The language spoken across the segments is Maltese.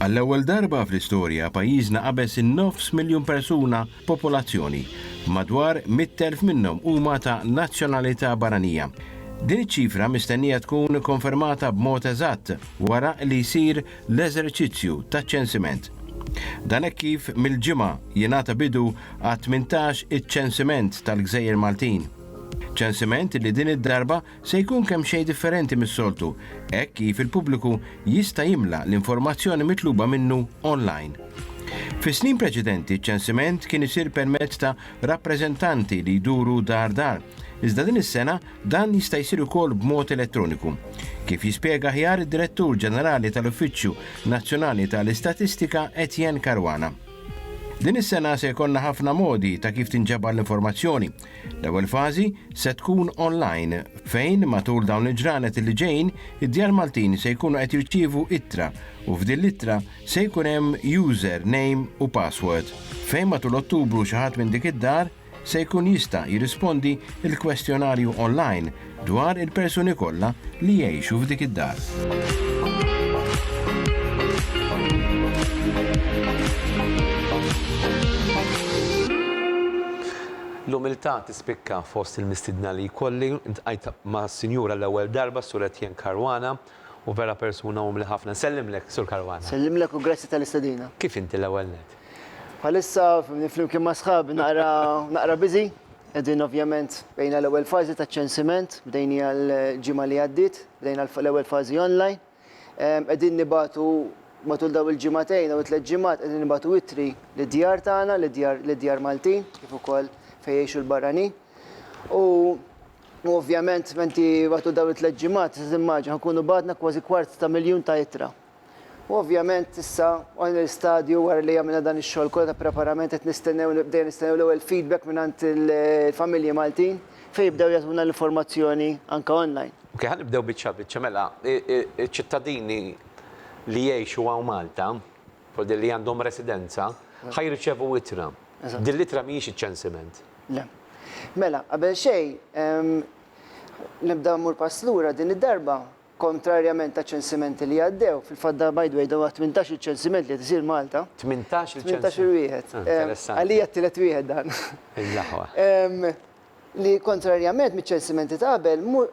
Għall-ewwel darba fl-istorja pajjiżna qabeż in-nofs miljun persuna popolazzjoni, madwar 100,000 minnhom huma ta' nazzjonalità barranija. Din iċ-ċifra mistennija tkun konfermata b'mod eżatt wara li jsir l-eżerċizzju taċ-ċensiment. Dan hekk kif mill-ġimgħa jingħata bidu għat-18 iċ-ċensiment tal-gżejjer Maltin. Ċensiment li din id-darba se jkun kemxejn differenti mis-soltu hekk kif il-pubbliku jista' jimla l-informazzjoni mitluba minnu online. Fis-snin preċedenti ċ-ċensiment kien isir permezz ta' rappreżentanti li jduru dar dar, iżda din is-sena Dan jista' jsir ukoll b'mod elettroniku, kif jispjega aħjar id-Direttur Ġenerali tal-Uffiċċju Nazzjonali ta' l-Istatistika Etienne Caruana. Din is-sena se jkollna ħafna modi ta' kif tinġabar l-informazzjoni. L-ewwel fażi se tkun online fejn matul dawn il-ġranet li ġejjin id-Djar Maltin se jkunu qed jirċievu ittra u f'din l-ittra se jkun hemm user name u password fejn matul Ottubru xi ħadd minn dik id-dar se jkun jista' jirrispondi l-kwestjonarju online dwar il-persuni kollha li jgħixu f'dik id-dar. L-umiltà tispikka fost il-mistiedna li jkolli, ltqajt mas-Sinjura l-ewwel darba, Sur Etienne Caruana, U vera persuna umli ħafna. Nsellimlek, Sur Caruana. Nsellimlek u grazzi tal-istedina. Kif inti l-ewwel nett? Bħalissa, fimni, flimkien ma' sħabi naqra, naqra busy. Qegħdin ovvjament bdejna l-ewwel fażi taċ-ċensiment, bdejniha l-ġimgħa li għaddiet, bdejna l-ewwel fażi online. Qegħdin nibagħtu matul dawn il-ġimgħatejn, dawn it-tliet ġimgħat, qegħdin nibagħtu ittri lid-djar tagħna, lid-djar, lid-djar Maltin, kif ukoll fejn jgħixu l-barranin. U. U ovvjament menti matul dawn it-tliet ġimgħat tista' timmaġina nkunu bagħatna kważi kwart ta' miljun ta' ittra. U ovvjament issa wasalna l-istadju wara li għamilna dan ix-xogħol kollu ta' preparament qed nistennew bdejna nistennew l-ewwel feedback mingħand il-familji Maltin fejn jibdew jagħtuna l-informazzjoni anke online. Ok, ħa nibdew biċċa biċċa. Mela, iċ-ċittadini li jgħixu hawn Malta, u li għandhom residenza ħa jirċevu ittra. Din l-ittra mhijiex iċ-ċensiment. Le. Mela, qabel xejn, nibda mmur pass lura din id-darba, kontrarjament għaċ-ċensimenti li għaddew, fil-fatt da by the way da huwa t-tmintax il ċensiment li qed isir Malta. Tmintax il-ċensiment. Tmintax il-wieħed. Interessanti. Għalija t-tielet wieħed dan. Il-laħwa. Li kontrarjament miċ-ċensimenti ta' qabel, mhu,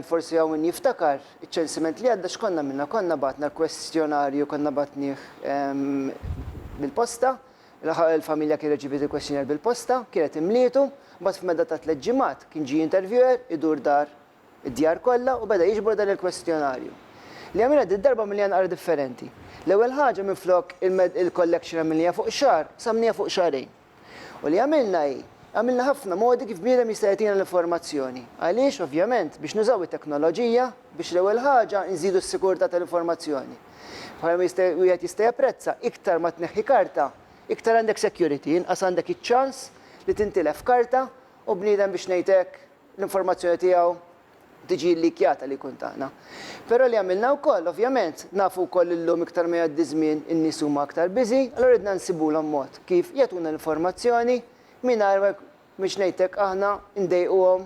forsi hawn min jiftakar, iċ-ċensiment li għadda x'konna għmilna? Konna bgħatna l-kwestjonarju, konna bgħatnieh bil-posta, l-familja kien reċipiet il-kwestjonarju bil-posta, kienet imlietu, mbagħad f'medda ta' tliet ġimgħat kien ġie interviewer idur dar id-djar kollha u beda jiġbor dan il-kwestjonarju. Li għamilna did-darba għamilniha naqra differenti. L-ewwel ħaġa minflok il-collection għamilniha fuq xahar, qsamnieha fuq xahrejn. U li għamilna hi, għamilna ħafna modi kif bniedem jista' jagħtina l-informazzjoni. Għaliex? Ovvjament, biex nużaw it-teknoloġija biex l-ewwel ħaġa nżidu s-sikurtà tal-informazzjoni. Bħalma jista' wieħed jista' japprezza, iktar ma tneħħi karta, iktar għandek security, inqas għandek iċ-ċans li tintilef karta u bniedem biex ngħid hekk, l-informazzjoni tiegħu tiġi llikkjata li jkun tagħna. Però li għamilna wkoll, ovvjament, nafu wkoll li llum iktar ma jgħaddi ż-żmien in-nies huma aktar busy, allura ridna nsibulhom mod kif jagħtuna l-informazzjoni mingħajr ma biex ngħid hekk aħna ndejquhom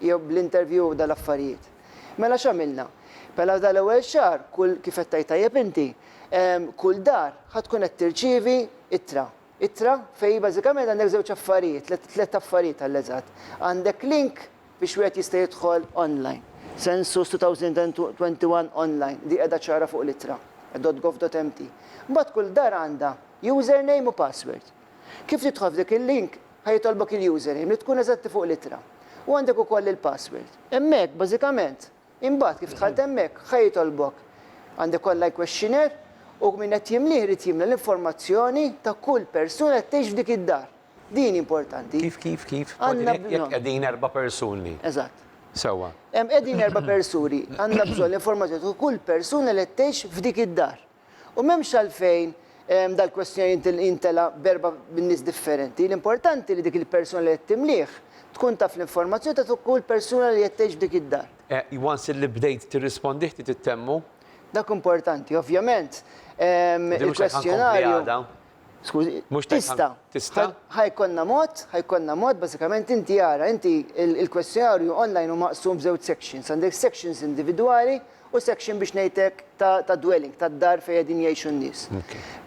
jew bl-interview u dal-affarijiet. Mela x'għamilna? Mela f'dan l-ewwel xahar, kull kif qed tgħid tajjeb inti, kull dar ħa tkun qed tirċievi ittra. Ittra fejn bażikament għandek żewġ affarijiet, tliet, tliet affarijiet għall-eżatt. Għandek link biex wieħed jista' jidħol online. Census 2021 online, di qiegħda ċara fuq l-ittra, .gov.mt. Mbagħad kull dar għandha username u password. Kif tidħol f'dik il-link, ħa jitolbok il-username li tkun eżatti fuq l-ittra. U għandek ukoll il-password. Hemmhekk, bażikament, Imbagħad, kif dħalt hemmhekk, ħa jitolbok. Għandek online questionnaire u min qed jimlieh irid jimla l-informazzjoni ta' kull persuna qed tgħix f'dik id-dar. Din importanti. Kif, kif, kif? Għandna bżonn. Jekk qegħdin erba' persuni. Eżatt. Sewwa. Hemm qegħdin erba' persuni. Għandna bżonn l-informazzjoni ta' kull persuna li qed tgħix f'dik id-dar. U m'hemmx għalfejn dal-kwestjonarju jintelgħa b'erba' nies differenti. L-importanti li dik il-persuna li qed timlih tkun taf l-informazzjoni ta' fuq kull persuna li qed tgħix f'dik id-dar. Once li bdejt tirrispondih trid ittemmu. Dak importanti, ovvjament, il-kwestjonarju. Skużi, tista'. Tista'. Ħa jkollna mod, ħa jkollna mod, bażikament inti ara, inti il-kwestjonarju online hu maqsum f'żewġ sections. Għandek sections individwali u section biex ngħidlek ta' dwelling, tad-dar fejn qegħdin jgħixu n-nies.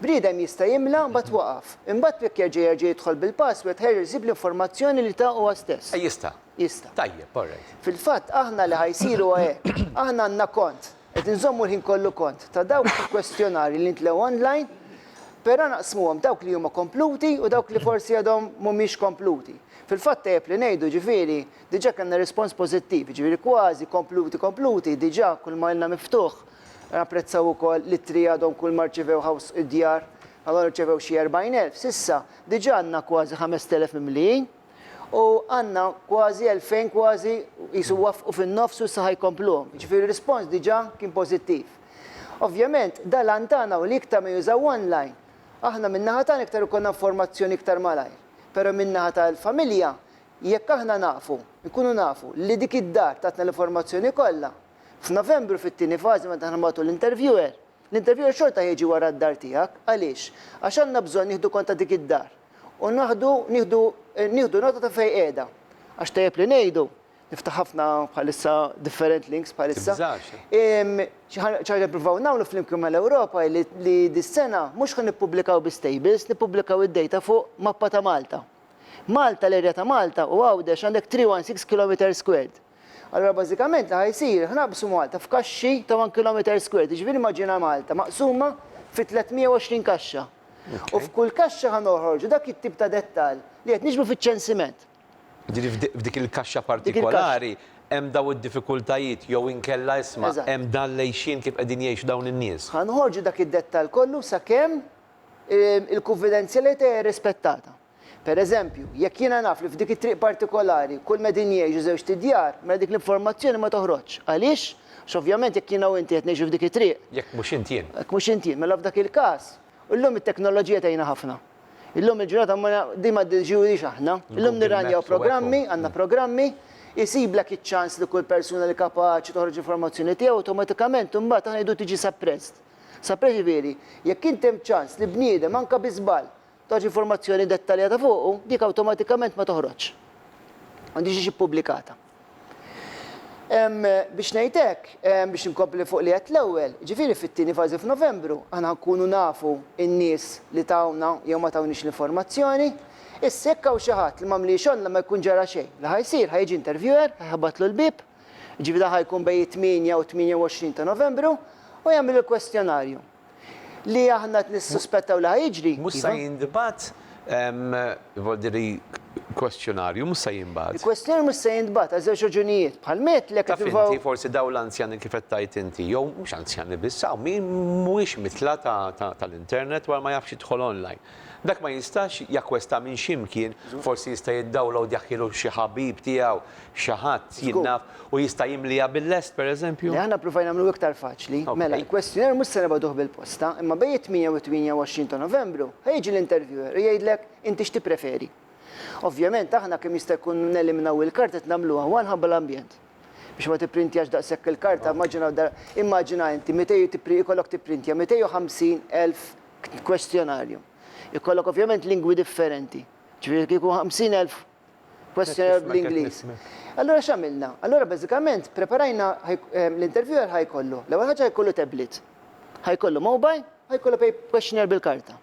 Bniedem jista' jimla u mbagħad waqaf. Imbagħad jekk jerġa' jerġa' jidħol bil-password ħa jerġa' jsib l-informazzjoni li ta huwa stess. Jista'. Jista'. Tajjeb, all right. Fil-fatt aħna li ħa jsir huwa hekk. Aħna għandna kont, Qed inżommu l-ħin kollu kont ta' dawk il-kwestjonarji li ntlew online, però naqsmuhom dawk li huma kompluti u dawk li forsi għadhom mhumiex kompluti. Fil-fatt tajjeb li ngħidu, ġifieri, diġà kellna rispons pożittiv, jiġifieri kważi kompluti kompluti diġà kulma ilna miftuħ. Napprezzaw ukoll l-ittri għadhom kulma rċivew ħaws id-djar, għadhom irċevew xi 40,000. S'issa diġà għandna kważi 5,000 mimlijin. u għandna kważi elfejn kważi qisu waffqu fin-nofs u issa ħa jkompluhom. Jiġifieri r-rispons diġà kien pożittiv. Ovvjament, da l-għan tagħna u li iktar ma jużaw online. Aħna min-naħa tagħna iktar ikollna informazzjoni iktar malajr. Però min-naħa tal-familja, jekk aħna nafu, nkunu nafu, li dik id-dar tatna l-informazzjoni kollha, f'Novembru fit-tieni fażi meta aħna nbagħtu l-interviewer, l-interviewer xorta ħa jiġi wara d-dar tiegħek. Għaliex? Għax għandna bżonn nieħdu kont ta' dik id-dar. u naħdu nieħdu nieħdu nota ta' fejn qiegħda. Għax tajjeb li ngħidu, niftaħ ħafna bħalissa different links bħalissa. ċaġa nippruvaw nagħmlu flimkien mal-Ewropa li dis-sena mhux ħa nippubblikaw biss tables, nippubblikaw id-data fuq mappa ta' Malta. Malta, l-erja ta' Malta u Għawdex għandek 316 kilometer squared. Allura bażikament li ħa jsir, ħa naqbsu Malta f'kaxxi ta' one kilometer squared, jiġifieri immaġina Malta maqsuma fi 320 kaxxa. U f'kull kaxxa ħa noħorġu dak it-tip ta' dettall li qed niġbru fiċ-ċensiment. Jiġifieri f'dik il-kaxxa partikolari hemm dawn id-diffikultajiet jew inkella isma' hemm dan l-għixien kif qegħdin jgħixu dawn in-nies. Ħa noħorġu dak id-dettall kollu sakemm il-kunfidenzjalità hija rispettata. Per eżempju, jekk jiena naf li f'dik it-triq partikolari kull ma qegħdin jgħixu żewġt idjar, mela dik l-informazzjoni ma toħroġx. Għaliex? Għax ovvjament jekk jiena u inti qed ngħixu f'dik it-triq. Jekk mhux int jien. Jekk mhux int jien. Mela f'dak il-każ, illum it-teknoloġija tgħinna ħafna. Illum il-ġurnata ma din ma ddiġiġiwilhiex aħna. Illum nirranjaw programmi, għandna programmi, isiblek iċ-ċans li kull persuna li kapaċi toħroġ l-informazzjoni tiegħu awtomatikament imbagħad aħna ngħidu tiġi suppressed. Suppressed jiġifieri jekk inti hemm ċans li bniedem anke bi żball Tagħti informazzjoni dettaljata fuqu, dik awtomatikament ma toħroġx. M'għandhiex tiġi ppubblikata. Biex ngħid hekk, biex inkompli fuq li għedt l-ewwel, ġifieri fit-tieni fażi f'Novembru aħna nkunu nafu n-nies li tawna jew ma tawniex l-informazzjoni. Issa jekk hawn xi ħadd li m'għamliex online ma jkun ġara xejn. Li ħa jsir, ħa jiġi interviewer, ħa jħabbatlu l-bieb, jiġifieri dan ħa jkun bejn it-tmienja u t-tmienja u għoxrin ta' Novembru, u jagħmel il-kwestjonarju. li aħna qed nissuspettaw li ħa jiġri. Mhux sa jintbagħat, vol dire l-kwestjonarju mhux sa jinbagħat. Il-kwestjonarju mhux sa jintbagħat għal żewġ raġunijiet. Bħal ma għedtlek qed nippruvaw. Taf inti forsi dawn l-anzjani kif qed tgħid inti, jew mhux anzjani biss, hawn min mhuwiex mitla' tal-internet u għal ma jafx jidħol online. Dak ma jistax jakkwesta minn xi mkien, forsi jista' jiddawlowd jaħkielu xi ħabib tiegħu, xi ħadd, jien naf, u jista' jimliha bil-lest, pereżempju? Le, aħna ppruvajna nagħmluh iktar faċli. Mela, il-kwestjoner mhux se nibgħatuh bil-posta, imma bejn it-tmien u t-tmienja u għoxrin ta' Novembru, ħa jiġi l-interviewer u jgħidlek inti x'tippreferi. Ovvjament aħna kemm jista' jkun neliminaw il-kard qed nagħmluha one ħabba l-ambjent. biex ma tipprintjax daqshekk il-karta, immaġina dar- immaġina inti 200 u tippri- ikollok tipprintja 250,000 k- kwestjonarju. Ikollok ovvjament lingwi differenti. Ġifieri kieku 50,000 kwestjonarju Qed bl-Ingliż. nifhmek. Allura x'għamilna? Allura bażikament preparajna ħaj- eh, l-interviewer ħajkollu, l-ewwel ħaġa ħajkollu tablet, ħajkollu mobile, ħajkollu pej- questionnaire bil-karta.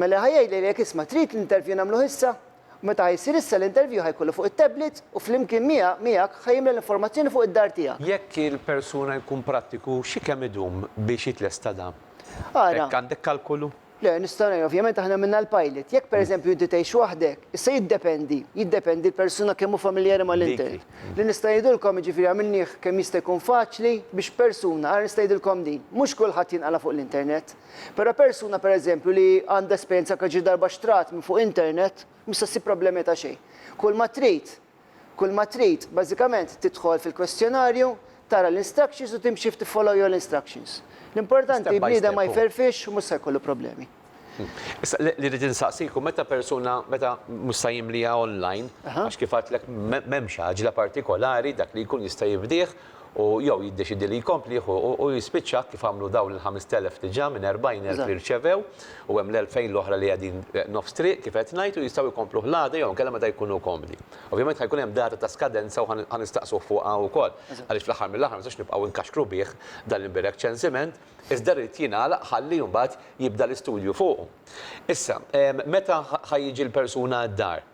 Mela ħa jgħidli jekk isma' trid l-interview nagħmluh issa? U meta ħa jsir issa l-interview ħa jkollu fuq it-tablet u flimkien miegħek miegħek ħa jimla l-informazzjoni fuq id-dar tiegħek. Jekk il-persuna jkun prattiku xi kemm idum biex jitlesta dan? Ara. Hekk għandek kalkolu? Le, nistgħu ngħinu. Ovvjament aħna għamilna l-pilot. Jekk per eżempju inti tgħix waħdek, issa jiddependi, jiddependi l-persuna kemm hu familjari mal-internet. Li nista' ngħidilkom jiġifieri għamilnih kemm jista' jkun faċli biex persuna, ara nista' ngħidilkom din, mhux kulħadd jinqala' fuq l-internet. Però persuna pereżempju li għandha esperjenza anke xi darba xtrat minn fuq internet mhux se ssib problemi ta' xejn. Kull ma trid, kull ma trid bażikament tidħol fil-kwestjonarju, tara l-instructions u timxi ftit follow your instructions. L-importanti bniedem ma jferrfix u mhux se jkollu problemi. Issa li rrid insaqsik hu meta persuna, meta mhux se jimliha online, għax kif għedtlek m'hemmx għaġla partikolari dak li jkun jista' jifdih, u jew jiddeċiedi li jkomplih u u jispiċċa kif għamlu dawn il-ħamest elf diġà minn erbgħin elf li rċevew u hemm l-elfejn l-oħra li qegħdin nofs triq kif qed ngħid u jistgħu jkompluh l-għada jew inkella meta jkunu komdi. Ovvjament ħa jkun hemm data ta' skadenza u ħa nistaqsuh fuqha wkoll għaliex fl-aħħar mill-aħħar ma nistgħux nibqgħu nkaxkru bih dan l-imbiregħ ċensiment iżda jrid jingħalaq ħalli mbagħad jibda l-istudju fuqu. Issa, meta ħa jiġi l-persuna d-dar?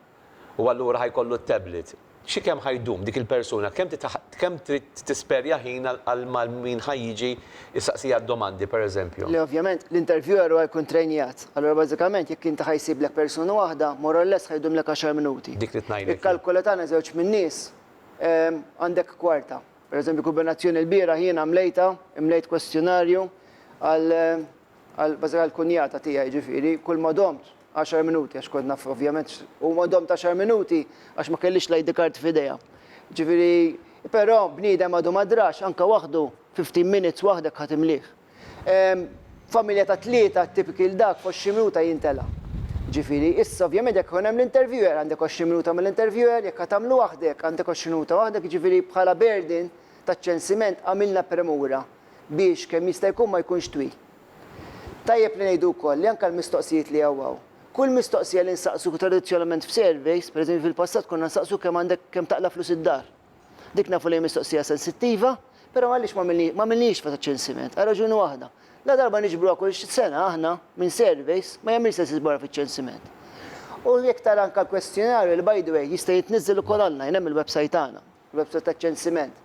u allura ħa jkollu t-tablet. Xi kemm ħa jdum dik il-persuna, kemm trid kemm trid tisperja ħin għal ma min ħa jiġi jsaqsiha d-domandi, per eżempju. Le, ovvjament, l-interviewer hu jkun trejnijat. Allura bażikament jekk inti ħa jsiblek persuna waħda, more or less ħa jdumlek għaxar minuti. Dik li tnajlek jien. Ikkalkula tagħna żewġ min-nies, għandek kwarta. Per eżempju, kumbinazzjoni lbieraħ jiena mlejtha, imlejt kwestjonarju għal għal bażikament għall-kunjata tiegħi, jiġifieri kull ma domt Għaxar minuti għax kont naf ovvjament huma domt għaxar minuti għax ma kellix l-ID card f'idejha. Ġifieri però bniedem għadu ma drax anke waħdu fifteen minutes waħdek ħa timlih. Familja ta' tlieta t-tipiki l dak f'għoxrin minuta jintela'. Ġifieri issa ovvjament jekk ikun hemm l-interviewer għandek għoxrin minuta mal-interviewer, jekk ħa tagħmlu waħdek għandek għoxrin minuta waħdek jiġifieri bħala burden taċ-ċensiment għamilna premura biex kemm jista' jkun ma jkunx twil. Tajjeb li ngħidu wkoll li anke l-mistoqsijiet li hawn hawn. Kull mistoqsija li nsaqsuk tradizzjonalment f'surveys, pereżempju fil-passat konna nsaqsuk kemm għandek kemm taqla' flus id-dar. Dik nafu li hi mistoqsija sensittiva, però għaliex ma għamilnihiex meta ċ-ċensiment? Għal raġuni waħda. La darba niġbruha kull sena aħna minn surveys, ma jagħmilx sens iġborha fiċ-ċensiment. U jekk tara anke l-kwestjonarju li by the way jista' jitniżżel ukoll online hemm il-website tagħna. website taċ-ċensiment.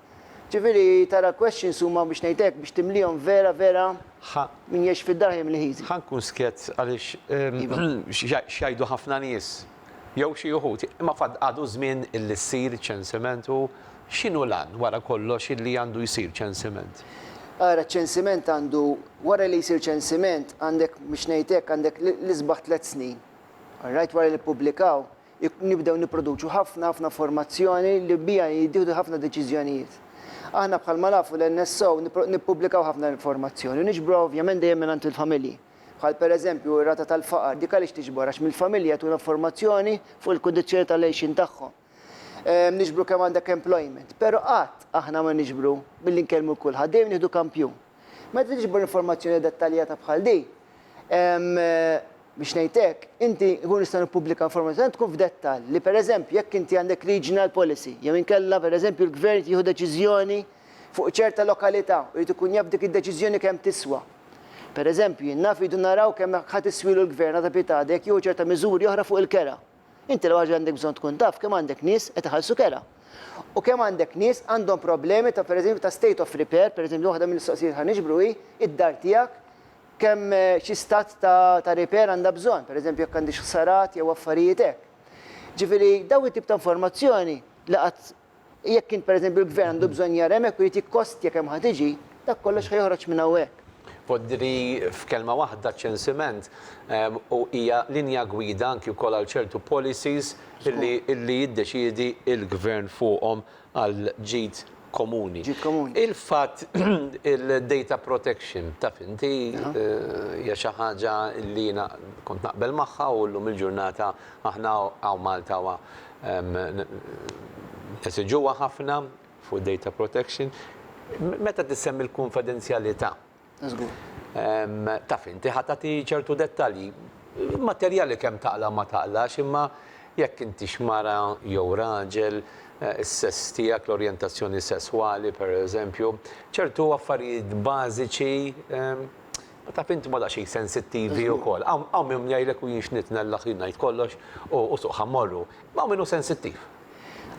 Ġifieri tara questions huma biex ngħid hekk biex timlihom vera vera min jgħix fid-dar ħajja mill-ħiżi. Ħa nkun skjett għaliex x'jgħidu ħafna nies jew xi uħud, imma fad għadu żmien illi ssir ċensiment u x'inhu l-għan wara kollox illi għandu jsir ċensiment? Ara ċ-ċensiment għandu wara li jsir ċensiment għandek biex ngħid hekk għandek l-isbaħ tliet snin. All right wara li ppubblikaw nibdew nipproduċu ħafna, ħafna informazzjoni li biha jittieħdu ħafna deċiżjonijiet. Aħna bħalma nafu l-NSO nippubblikaw ħafna informazzjoni u niġbruha ovvjament dejjem mingħand il-familji. Bħal pereżempju r-rata tal-faqar, dik għaliex tiġbor? Għax mill-familji jagħtuna informazzjoni fuq il-kundizzjoni tal-għejxien tagħhom. Niġbru kemm għandek employment, però qatt aħna ma niġbru billi nkellmu lil kulħadd, dejjem nieħdu kampjun. Meta tiġbor informazzjoni dettaljata bħal din, biex ngħid hekk, inti nkunu nistgħu nippubblikaw informazzjoni tkun f'dettall li pereżempju jekk inti għandek regional policy jew inkella pereżempju l-gvern jieħu deċiżjoni fuq ċerta lokalità u jrid ikun jaf dik id-deċiżjoni kemm tiswa. Pereżempju, jien naf iridu naraw kemm ħa tiswilu l-gvern ad habitada jekk jieħu ċerta miżuri oħra fuq il-kera. Inti l-ewwel ħaġa li għandek bżonn tkun taf kemm għandek nies qed iħallsu kera. U kemm għandek nies għandhom problemi ta' pereżempju ta' state of repair, pereżempju waħda mill-mistoqsijiet li ħa niġbru hi, id-dar tiegħek kemm xi stat ta' ta' repair għandha bżonn, pereżempju jekk għandhiex ħsarat jew affarijiet hekk. Ġifieri dawn it-tip ta' informazzjoni li qatt Jekk int pereżempju l-gvern għandu bżonn jara hemmhekk u jrid jikkostja kemm ħa tiġi, dak kollox ħa joħroġ minn hawnhekk. Poddri f'kelma waħda ċ-ċensiment u hija linja gwida anki wkoll għal ċertu policies illi illi jiddeċiedi il-gvern fuqhom għal ġid komuni. Ġid komuni. Il-fatt il-data protection taf inti hija xi ħaġa illi jiena kont naqbel magħha u llum il-ġurnata aħna hawn Malta nesiġuha ħafna fuq data protection. Meta tissemmi l-kunfidenzjalità, taf inti ħa tagħti ċertu dettalji. Materjali kemm taqla' ma taqlax, imma jekk intix mara jew raġel, is-sess tiegħek, l-orjentazzjoni sesswali, pereżempju, ċertu affarijiet bażiċi, Taf int ma daqsxejn sensittivi wkoll. Hawn min jgħidlek u jien x'nitnellaq jien ngħid kollox u suq ħa mmorru. Imma hawn min hu sensittiv.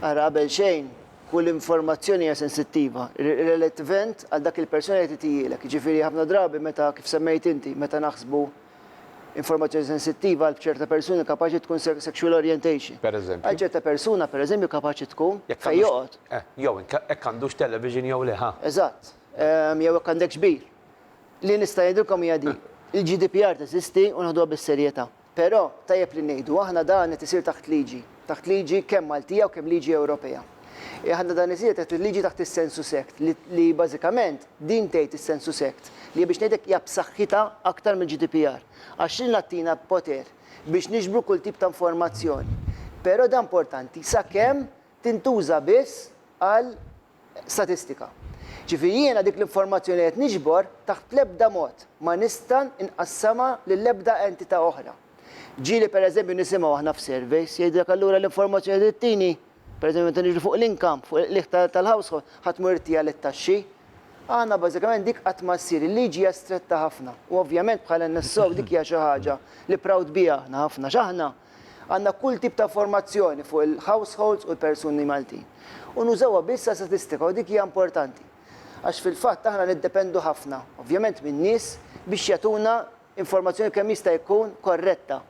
Ara qabel xejn, kull informazzjoni hija sensittiva, relativent għal dak il-persuna li titijielek. Jiġifieri ħafna drabi meta, kif semmejt inti, meta naħsbu informazzjoni sensittiva għal b'ċerta persuni kapaċi tkun sexual orientation. Pereżempju. Għal ċerta persuna, pereżempju, kapaċi tkun fejn joqgħod. Jew hekk għandux television jew le, ha? Eżatt. Jew hekk għandekx bir. li nista' ngħidilkom hija din, il-GDPR teżisti u neħduha bis-serjetà. Però, tajjeb li ngħidu, aħna dan qed isir taħt liġi, taħt liġi kemm Maltija u kemm liġi Ewropea. Aħna dan isir taħt il-liġi taħt is-Sensus Act li li bażikament din tgħid is-Sensus Act li biex ngħidlek hija b'saħħitha aktar mill-GDPR għax din qed tina poter biex niġbru kull tip ta' informazzjoni. Però dan importanti sakemm tintuża biss għal statistika. Ġifieri jiena dik l-informazzjoni li qed niġbor taħt l-ebda mod ma nista' nqassamha lil ebda entità oħra. Ġieli pereżempju nisimgħu aħna f'surveys jgħidlek allura l-informazzjoni trid tini, pereżempju meta niġu fuq l-income, fuq il-qligħ tal-household, ħadd mhu jrid jagħli t-taxxi. Aħna bażikament dik qatt ma ssir, il-liġi hija stretta ħafna u ovvjament bħala NSO dik hija xi ħaġa li proud biha aħna ħafna x'aħna. Għandna kull tip ta' informazzjoni fuq il-households u l-persuni Maltin. U nużawha biss għal statistika u dik hija importanti. Għax fil-fatt aħna niddependu ħafna, ovvjament min-nies biex jagħtuna informazzjoni kemm jista' jkun korretta.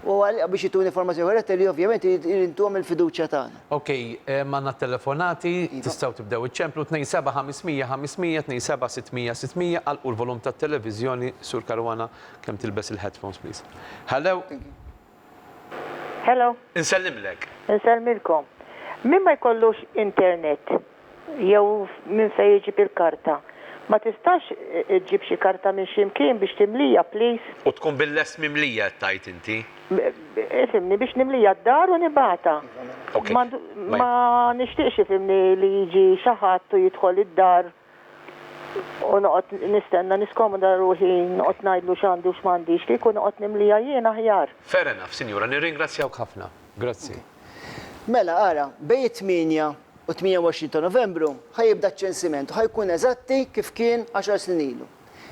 U għal biex jtuni informazzjoni korretta li ovvjament irid intuhom il-fiduċja tagħna. Ok, għandna t-telefonati, tistgħu tibdew iċċemplu, 27 500 500, 27 600 600, għalqu l-volum tat-televiżjoni, Sur Caruana. Kemm tilbes il headphones please. Hello. Hello. Insellimlek. Insellmilkom. Min ma jkollux internet jew minn fejn iġib il-karta, ma tistax iġġib xi karta minn xi mkien biex timlija please? U tkun bil-lest mimlija qed tgħid inti? Ifhimni, biex nimlija d-dar u nibgħatha. Ok. Ma nixtieqx ifhimni li jiġi xi ħadd u jidħol id-dar. u noqgħod nistenna niskomoda ruħi noqgħod ngħidlu x'għandi u x'm'għandix, kieku noqgħod nimliha jien aħjar. Fair enough, Sinjura, nirringrazzjawk ħafna. Grazzi. Mela, ara, bejn it-tmienja u t-tmienja u għoxrin ta' Novembru ħa jibda ċ-ċensiment u ħa jkun eżatti kif kien għaxar snin ilu.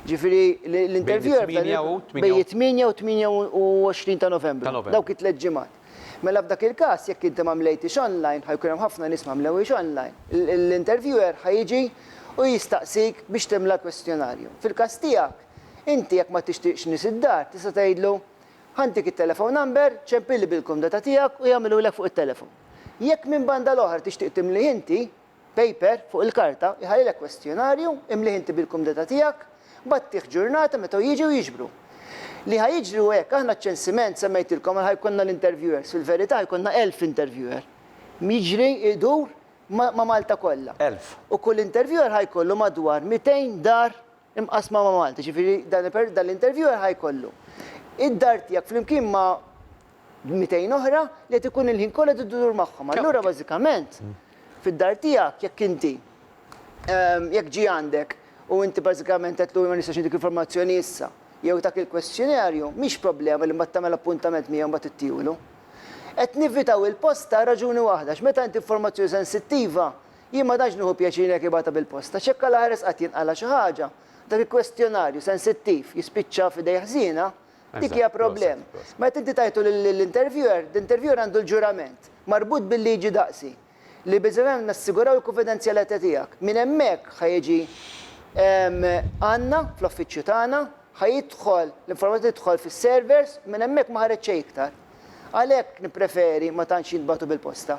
Jiġifieri l-interviewer Bejn it-tmienja u? Bejn it-tmienja u t-tmienja u għoxrin ta' Novembru. Ta' Novembru. Dawk it-tliet ġimgħat. Mela f'dak il-każ, jekk inti ma mlejtix online, ħa jkun hemm ħafna nies ma mlewhiex online. L-interviewer ħa jiġi u jistaqsik biex timla l-kwestjonarju. Fil-każ tiegħek, inti jekk ma tixtieqx nies id-dar, tista' tgħidlu, Ħa ntik it-telephone number, ċempilli bil-kumdata tiegħek u jagħmilulek fuq it-telefon. Jekk minn banda l-oħra tixtieq timlih inti, Paper, fuq il-karta, iħallilek kwestjonarju, imlih inti bil-kumdità tiegħek, mbagħad tih ġurnata meta hu jiġi u jiġbru. Li ħa jiġri hu hekk, aħna ċ-ċensiment, semmejtilkom, għal ħa jkollna l-interviewers, fil-verità ħa jkollna elf interviewer. Jiġri, idur, ma' Malta kollha. Elf. U kull interviewer ħa jkollu madwar mitejn dar imqassma ma' Malta, jiġifieri dan per dan l-interviewer ħa jkollu id-dar tiegħek flimkien ma' 200 oħra li qed ikun il-ħin kollu qed idur magħhom. Allura bażikament fid-dar tiegħek jekk inti jekk ġie għandek u inti bażikament għedtlu ma nistax intik l-informazzjoni issa jew tak il-kwestjonarju, mhix problema li mbagħad tagħmel appuntament miegħu mbagħad ittiehulu. Qed nevitaw il-post għal raġuni waħda, għax meta inti informazzjoni sensittiva, Jien ma tantx nieħu pjaċir jekk ibgħatha bil-posta. Ċekka l-aħres qatt jinqala' xi ħaġa. Dak il-kwestjonarju sensittiv jispiċċa f'idej ħżiena? Dik hija problema. Meta inti tagħtu lill-interviewer, l-interviewer għandu l-ġurament, marbut bil-liġi daqsi, li biżżejjed nassiguraw il-kunfidenzjalità tiegħek. Minn hemmhekk ħa jiġi għandna, fl-uffiċċju tagħna, ħa jidħol, l-informazzjoni tidħol fis-servers, u minn hemmhekk ma ħareġ xejn iktar. Għalhekk nippreferi ma tantx jintbagħtu bil-posta.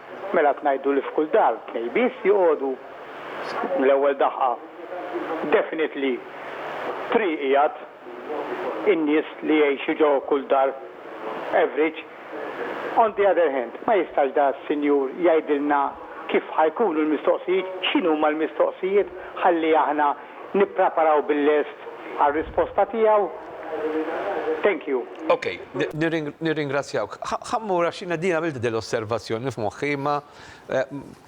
Mela qed ngħidu li f'kull dar tnejn biss joqogħdu? Mill-ewwel daħqa definitely three qiegħed, in-nies li jgħixu ġo kull dar average. On the other hand, ma jistax da s-sinjur jgħidilna kif ħa jkunu l-mistoqsijiet, x'inhuma l-mistoqsijiet ħalli aħna Nippreparaw bil-lest għar-risposta tiegħu. Thank you. Ok, nirringrazzjawk. Ħa mmur għax jiena din għamilt din l-osservazzjoni f'moħħi imma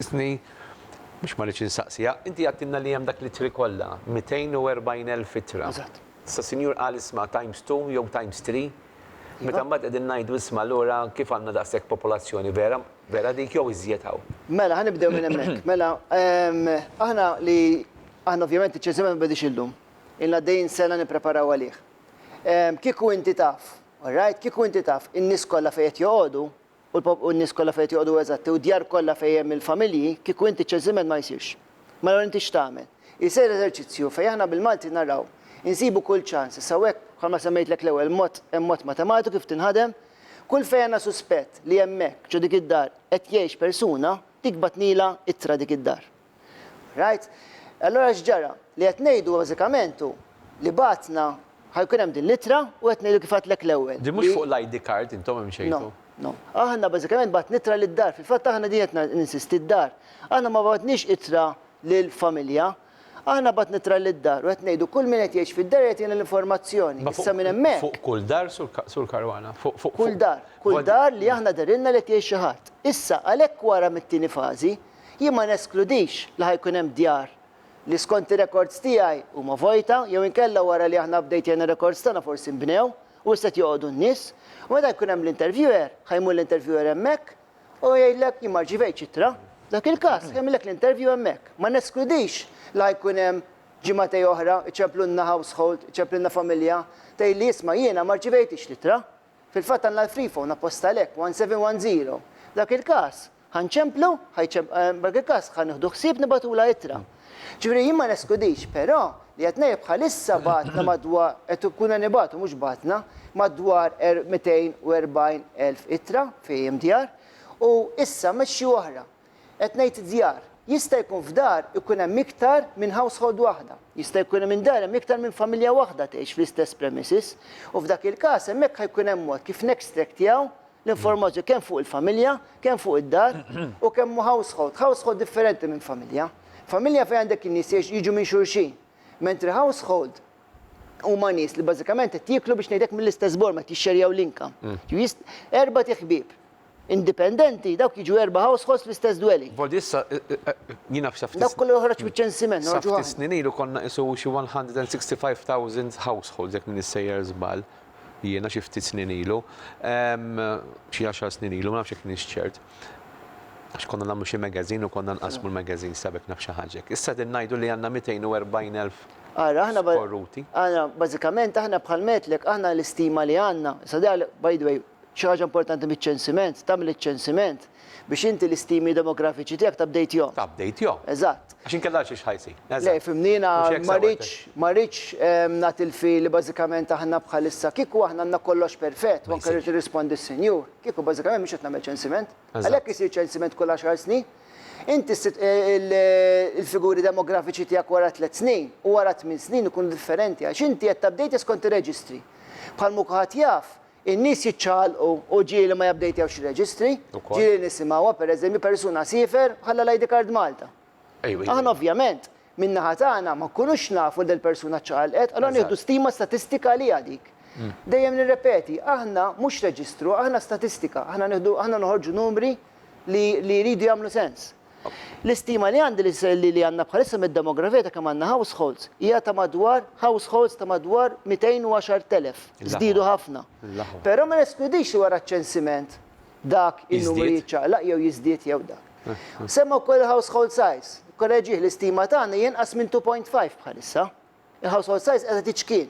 isni biex ma rridx insaqsiha. Inti għedtilna li hemm dak l-ittri kollha, 240,000 ittra. Eżatt. Issa sinjur qal isma' times two jew times three. Meta mbagħad qegħdin ngħidu isma' allura kif għandna daqshekk popolazzjoni vera? Vera dik jew iżjed hawn? Mela, ħa nibdew minn hemmhekk. Mela, aħna li, aħna ovvjament iċ-ċensimenti ma bidiex illum. Ilna għaddejjin sena nippreparaw għalih. Kieku inti taf, all right, kieku inti taf in-nies kollha fejn qed joqogħdu u l-po, u n-nies kollha fejn qed joqogħdu eżatti u d-djar kollha fejn hemm il-familji, kieku inti ċ-ċensiment ma jsirx. Mela allura inti x'tagħmel? Isir eżerċizzju fejn aħna bil-Malti naraw, insibu kull ċans, issa hawn hekk bħalma semmejtlek l-ewwel mod, hemm mod matematiku kif tinħadem, Kull fejn għandna suspett li hemmhekk ġo dik id-dar qed jgħix persuna, dik bagħtnilha ittra dik id-dar. Rajt? Allura x'ġara? Li qed ngħidu bażikament hu li bagħatna ħa jkun hemm din l-ittra u qed ngħidu kif għedtlek l-ewwel. Din mhux fuq l-ID card intom imxejtu? No, no. Aħna bażikament bagħatna ittra lid-dar. Fil-fatt aħna din qed ninsisti d-dar. Aħna ma bagħatniex ittra lill-familja. Aħna mbagħad nittra' lid-dar u qed ngħidu kull min qed jgħix fid-dar irid jagħtina l-informazzjoni. Issa minn hemmhekk. Fuq kull dar, Sur Caruana? Fuq, fuq, fuq. Kull dar. Kull dar li aħna dehrilna li qed jgħix xi ħadd. Issa, għalhekk wara mit-tieni fażi, jien ma neskludix li ħa jkun hemm djar li skont ir-rekords tiegħi huma vojta jew inkella wara li aħna updejtjajna r-rekords tagħna forsi nbnew u issa qed joqogħdu n-nies. U meta jkun hemm l-interviewer, ħa jmur l-interviewer hemmhekk U jgħidlek jien ma rċivejtx ittra. Dak il-każ, jagħmilek l-interview hemmhekk. Ma neskludix la jkun hemm ġimagħtej oħra iċemplulna household, iċemplilna familja, tgħidli isma' jiena ma rċivejtix l-ittra. Fil-fatt għandna l-free phone apposta għalhekk, 1710. Dak il-każ, ħa nċemplu, dak il-każ ħa nieħdu ħsieb nibgħatulha ittra. Ġifieri jien ma neskludix, però, li qed ngħid bħalissa bagħatna madwar, qed ikuna nibagħtu mhux bagħatna, madwar 240,000 ittra fi EMDR u issa mexxi oħra. Qed ngħid djar. Jista' jkun f'dar ikun hemm iktar minn household waħda. Jista' jkun li minn dar hemm iktar minn familja waħda tgħix fl-istess premises. U f'dak il-każ hemmhekk ħa jkun hemm mod kif nextractjaw L-informazzjoni kemm fuq il-familja, kemm fuq id-dar u kemm hu household. Household differenti minn familja. Familja fejn għandek in-nies jgħix jiġu minn xulxin. Mentri household huma nies li bażikament qed jieklu biex ngħidlek mill-istess borma, qed jixxerjaw l-income. Jew jis-, erba' tiħbieb indipendenti, dawk jiġu erba' households fl-istess dwelling. Volli issa, jiena f'sa ftit. Dak kollu joħroġ miċ-ċensiment, noħorġu aħna. Sa ftit snin ilu konna qisu xi 165,000 households jekk m'iniex sejjer żball. jiena xi ftit snin ilu, xi għaxar snin ilu, ma nafx jekk kienx ċert, għax konna nagħmlu xi magazine u konna nqassmu l-magazines ta' bekk naf xi ħaġa hekk. Issa qegħdin ngħidu li għandna 240,000 skorruti. Ara, bażikament aħna bħal ngħidlek, aħna l-istima li għandna, issa by the way, xi ħaġa importanti miċ-ċensiment, tagħmel iċ-ċensiment, Biex inti l-istimi demografiċi tiegħek t-updatehom. T-updatehom. Eżatt. Għax inkella għal xiex ħa jsir. Eżatt. Le, fhimni, jiena ma rridx, ma rridx nagħti l-feel li bażikament aħna bħalissa, kieku aħna għandna kollox perfett, u anke rrid nirrispondi s-Sinjur, kieku bażikament mhux qed nagħmel ċensiment. Għalhekk isir ċensiment kull għaxar snin. Inti s-sit, il-figuri demografiċi tiegħek wara tliet snin u wara tmien snin ikunu differenti għax inti qed t-update skont ir-reġistri. Bħal ma kulħadd jaf, In-nies jiċċaqalqu u ġieli li ma jabdejtewx ir-reġistri, ġieli li nisimgħuha, pereżempju, persuna siefer u ħalla l-ID card Malta. Aħna ovvjament, min-naħa tagħna, ma nkunux nafu li dil-persuna ċċaqalqet, allura nieħdu stima statistika għaliha dik. Dejjem nirrepeti, aħna mhux reġistru, aħna statistika, aħna noħorġu numri li jridu jagħmlu sens. L-istima li għandi li li għandna bħalissa mid-demografija ta' kemm għandna households hija ta' madwar households ta' madwar 210,000. Żdiedu ħafna. Però ma neskludix li wara ċ-ċensiment dak in-numru jiċċaqlaq jew jiżdied jew dak. Semma wkoll il-household size. Korreġih, l-istima tagħna hija inqas minn 2.5 bħalissa. Il-household size qiegħda tiċkien.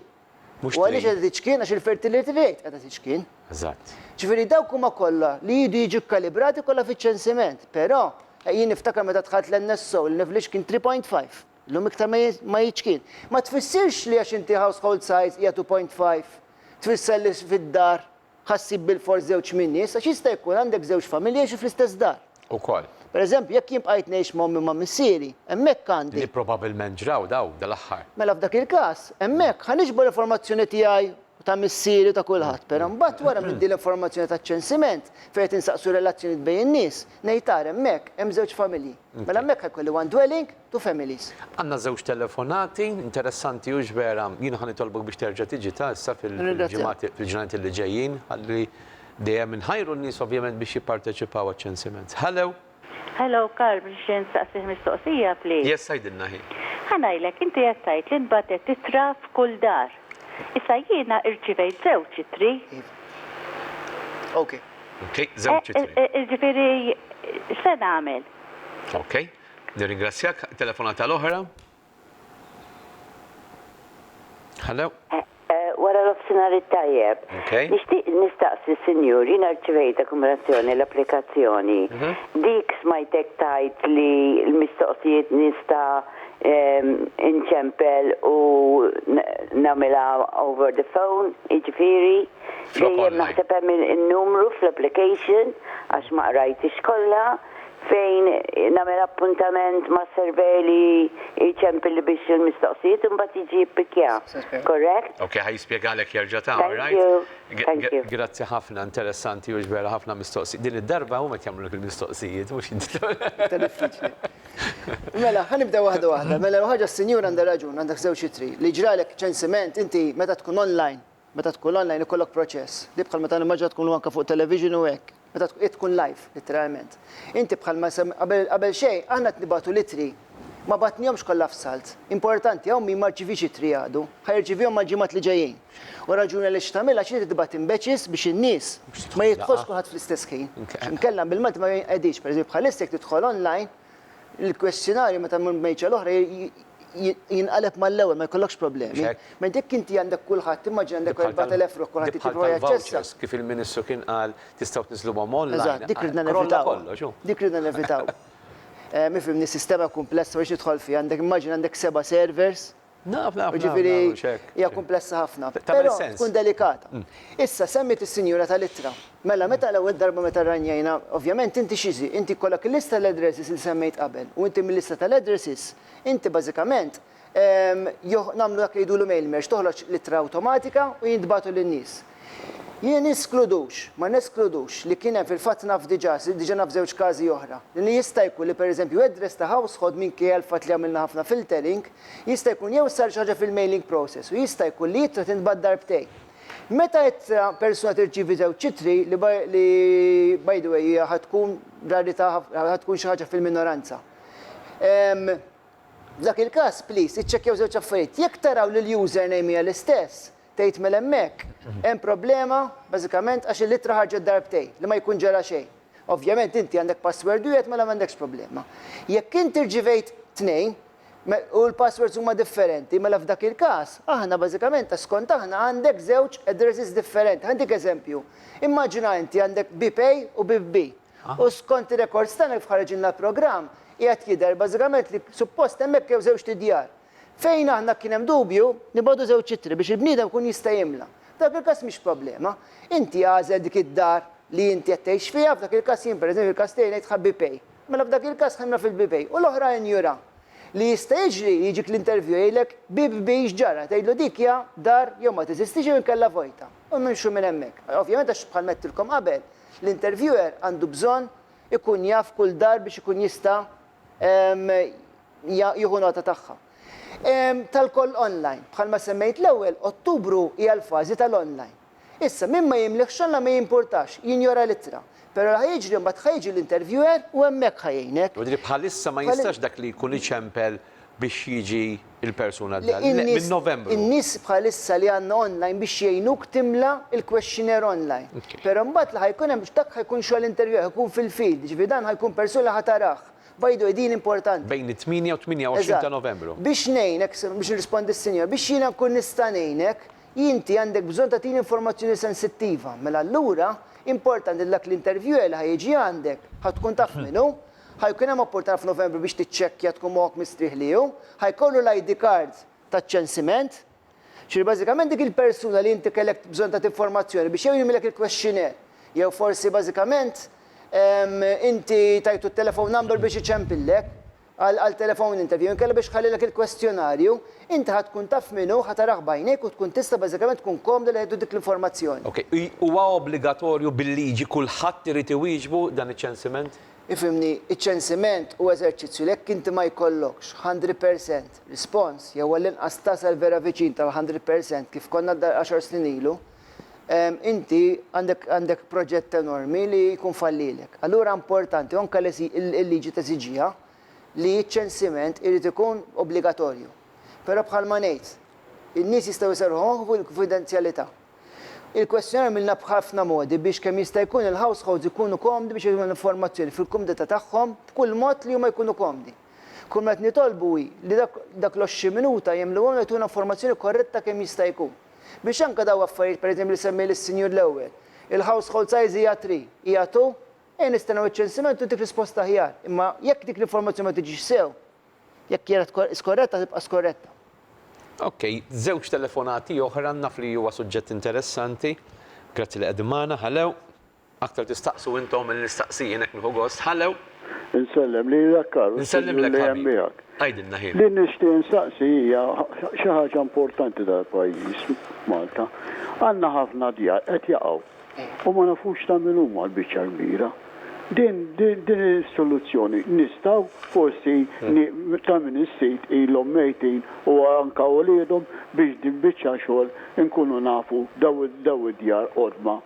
Mhux U għaliex trid. qiegħda tiċkien għax il-fertility rate qiegħda tiċkien. Eżatt. Ġifieri dawk huma kollha li jridu jiġu kkalibrati kollha fiċ-ċensiment. Però eh, jien niftakar meta dħalt l-NSO l-average kien 3.5. Illum iktar ma ji- ma jiċkien. Ma tfissirx li għax inti household size hija 2.5 tfisser li fid-dar Ħa ssib bilfors żewġ min-nies, għax jista' jkun għandek żewġ familji jgħixu fl-istess dar. Ukoll. Per eżempju, jekk jien bqajt ngħix ma' ommi u ma' missieri, hemmhekk għandi. Li probabbilment ġraw dawn dal-aħħar. Mela f'dak il-każ, hemmhekk ħa niġbor l-informazzjoni tiegħi u ta' missieri u ta' kulħadd, però mbagħad wara minn din l-informazzjoni taċ-ċensiment, fejn qed insaqsu r-relazzjonijiet bejn in-nies, ngħid ara hemmhekk hemm żewġ familji. Mela hemmhekk ħa jkolli one dwelling, to families. Għandna żewġ telefonati interessanti hux vera? Jiena ħa nitolbok biex terġa' tiġi ta' issa fil-ġimgħat fil-ġranet illi ġejjin ħalli dejjem inħajru n-nies ovvjament biex jipparteċipaw għaċ-ċensiment. Hello. Hello Karl nixtieq insaqsih mistoqsija please. Yes għidilna hi. Ħa ngħidlek inti qed tgħid li nbagħtet ittra f'kull dar. Issa jiena irċivejt żewġ ittri. Iva. Ok. Ok żewġ ittri. Ġifieri x'se nagħmel? Ok. Nirringrazzjak, telefonata l-oħra. Hello? Wara nofsinhar it-tajjeb. Nixtieq nistaqsi Sinjur, jiena rċivejt akkumulazzjoni l-applikazzjoni. Dik smajtek tgħid li l-mistoqsijiet nista' inċempel u nagħmilha over the phone, jiġifieri dejjem naħseb hemm in-numru fl-application għax ma qrajthiex kollha. fejn nagħmel appuntament ma' surveyor li jċempilli biex il-mistoqsijiet imbagħad jiġi jippikja. Correct? Ok, ħa jispjegalek jerġa' ta', alright? Thank you, thank you. Grazzi ħafna, interessanti u ġbera ħafna mistoqsijiet. Din id-darba huma qed jagħmlulek il-mistoqsijiet, mhux inti. Iktar diffiċli. Mela, ħa nibdew waħda waħda. Mela l-ewwel ħaġa s-sinjura għandha raġun, għandek żewġ ittri. Li jġralek ċensiment, inti meta tkun online, Meta tkun online ikollok proċess, li bħal meta nimmaġina tkunu anke fuq television u hekk, meta hi tkun live litteralment. Inti bħalma semm qabel qabel xejn aħna qed nibgħatu l-ittri, ma bagħtnihomx kollha f'salt. Importanti hawn min ma rċiviex ittri għadu, ħa jirċivihom mal-ġimgħat li ġejjin. U r-raġuni għaliex qed tagħmilha għax inti tibgħat imbeċis biex in-nies ma jidħolx kulħadd fl-istess ħin. Inkella bil-Malti ma jinqediex. Per eżempju bħalissa jekk tidħol online, il-kwestjonarju meta mmur mejċa l-oħra jinqaleb mal-ewwel ma jkollokx problemi. Mentre jekk inti għandek kulħadd, immaġina għandek 4000 ruħ kulħadd jitlob għal jaċċessa. Kif il-Ministru kien qal tistgħu tniżluhom online. Eżatt, dik ridna nevitaw. Dik ridna nevitaw. Mifhimni sistema kumplessa biex nidħol fiha, għandek immaġina għandek seba' servers. Naf, naf, naf, naf, naf, naf, naf. Hija kumplessa ħafna. Tagħmel sens. Tkun delikata. Issa, semmiet is-sinjura tal-ittra. Mela, meta l-ewwel darba meta rranjajna, ovvjament inti xi zi, inti jkollok il-lista tal-addresses li semmejt qabel, u inti mil-lista tal-addresses, inti bażikament, ehm, joh, nagħmlu dak li jgħidulu mail merge, toħroġ l-ittra awtomatika u jintbagħtu lin-nies. Jien niskludux, ma neskludux, li kien hemm, fil-fatt naf diġà, sirt diġà naf żewġ każi oħra, li jista' jkun li pereżempju address ta' household minkejja l-fatt li għamilna ħafna filtering, jista' jkun jew sar xi ħaġa fil-mailing process u jista' jkun li ittra tintbagħat darbtejn. Meta ittra, persuna tirċievi żewġ ittri, li by, li by the way hija ħa tkun rarità ħafna, ħa tkun xi ħaġa fil-minoranza. Ehm, f'dak il-każ, please, iċċekkjaw żewġ affarijiet. Jekk taraw li l-username hija l-istess, Tgħid mela hemmhekk hemm problema bażikament għax il-ittra ħarġet darbtejn li ma jkun ġara xejn. Ovvjament inti għandek password wieħed mela m'għandekx problema. Jekk inti rċivejt tnejn u l-passwords huma differenti mela f'dak il-każ aħna bażikament skont aħna għandek żewġ addresses differenti. Ħa ntik eżempju, immaġina inti għandek bip A u bip B u skont ir-records tagħna kif ħareġilna l-programm qiegħed jidher bażikament li suppost hemmhekk jew żewġt idjar. Fejn aħna kien hemm dubju, nibgħatu żewġ ittri biex il-bniedem ikun jista' jimla. F'dak il-każ mhix problema. Inti għażel dik id-dar li inti qed tgħix fiha, f'dak il-każ jien pereżempju fil-każ tiegħi ngħidħa BP. Mela f'dak il-każ ħa nimla fil-BP u l-oħra injura. Li jista' jiġri li jiġik l-interview jgħidlek, BBB x'ġara? Tgħidlu dik hija dar jew ma teżistix jew inkella vojta. U nimxu minn hemmhekk. Ovvjament għax bħalma għedtilkom qabel, l-interviewer għandu bżonn ikun jaf kull dar biex ikun jista' jieħu nota tagħha. Tal-koll online. Bħalma semmejt l-ewwel, Ottubru hija l-fażi tal-online. Issa, min ma jimliħx online ma jimpurtax, jinjora l-ittra. Però li ħa jiġri mbagħad ħa jiġi l-interviewer u hemmhekk ħa jgħinek. Jiġifieri bħalissa ma jistax dak li jkun iċempel biex jiġi l-persuna d-dar. Le, minn Novembru. In-nies bħalissa li għandna online biex jgħinuk timla l-questionnaire online. Però mbagħad li ħa jkun hemm, dak ħa jkun xogħol interview, ħa jkun fil-field, jiġifieri dan ħa jkun persuna li ħa tarah. By the way, din importanti. Bejn it-tmienja u t-tmienja-u-għoxrin ta' Novembru. Eżatt. Biex ngħinek, biex nirrispondi s-sinjora, biex jiena nkun nista' ngħinek, inti għandek bżonn tagħtini informazzjoni sensittiva. Mela allura, importanti li dak l-interviewer li ħa jiġi għandek, ħa tkun taf min hu, Ħa jkun hemm opportunità f'Novembru biex tiċċekkja tkun moħħok mistrieħ li hu. Ħa jkollu l-ID card taċ-ċensiment. Ġifieri bażikament dik il-persuna li inti kellek bżonn tagħti informazzjoni biex jew jimlielek il-questionnaire jew forsi bażikament inti tajtu t-telephone number biex iċempillek għal telephone interview inkella biex iħallilek il-kwestjonarju, inti ħa tkun taf min hu, ħa tarah b'għajnejk u tkun tista' bażikament tkun komda li ħa jieħdu dik l-informazzjoni. Ok, huwa obbligatorju bil-liġi kulħadd irid iwieġbu dan iċ-ċensiment? Ifhimni, iċ-ċensiment hu eżerċizzju li jekk inti ma jkollokx hundred percent response jew għall-inqas tasal vera viċin tal-hundred percent kif konna għaxar snin ilu, inti għandek għandek proġett enormi li jkun fallilek. Allura importanti u anke l-liġi teżiġiha li ċ-ċensiment irid ikun obbligatorju. Però bħalma ngħid, in-nies jistgħu jserrħu moħħ f'kunfidenzjalità. Il-kwestjonar għamilna b'ħafna modi biex kemm jista' jkun il-households ikunu komdi biex jagħtuna l-informazzjoni fil-kumdità tagħhom b'kull mod li huma jkunu komdi. Kull ma qed nitolbu hi li dak dak l-għoxrin minuta jagħmluhom jagħtuna informazzjoni korretta kemm jista' jkun. Biex anke daw affarijiet pereżempju li semmi l-Sinjur l-ewwel, il-household size hija three, hija two, ejja nistennew iċ-ċensiment u ntik risposta aħjar. Imma jekk dik l-informazzjoni ma tiġix sew, Jekk kienet skorretta tibqa' skorretta. Ok, żewġ telefonati oħra naf li huwa suġġett interessanti. Grazzi li qegħdin magħna. Hello. Aktar tistaqsu intom milli nistaqsi jien hekk nieħu gost. Hello. Insellem lilek Karl u s-Sinjur li hemm miegħek. Għidilna ħin. Li nixtieq insaqsi hija xi ħaġa importanti tal-pajjiż Malta. Għandna ħafna djar qed jaqgħu. U ma nafux ta' min huma l-biċċa l-kbira. Din, din, din is-soluzzjoni nistgħu forsi ni, ta' min is-sit ilhom mejtin u anka uliedhom biex din biċċa xogħol inkunu nafu daw, daw id-djar qodma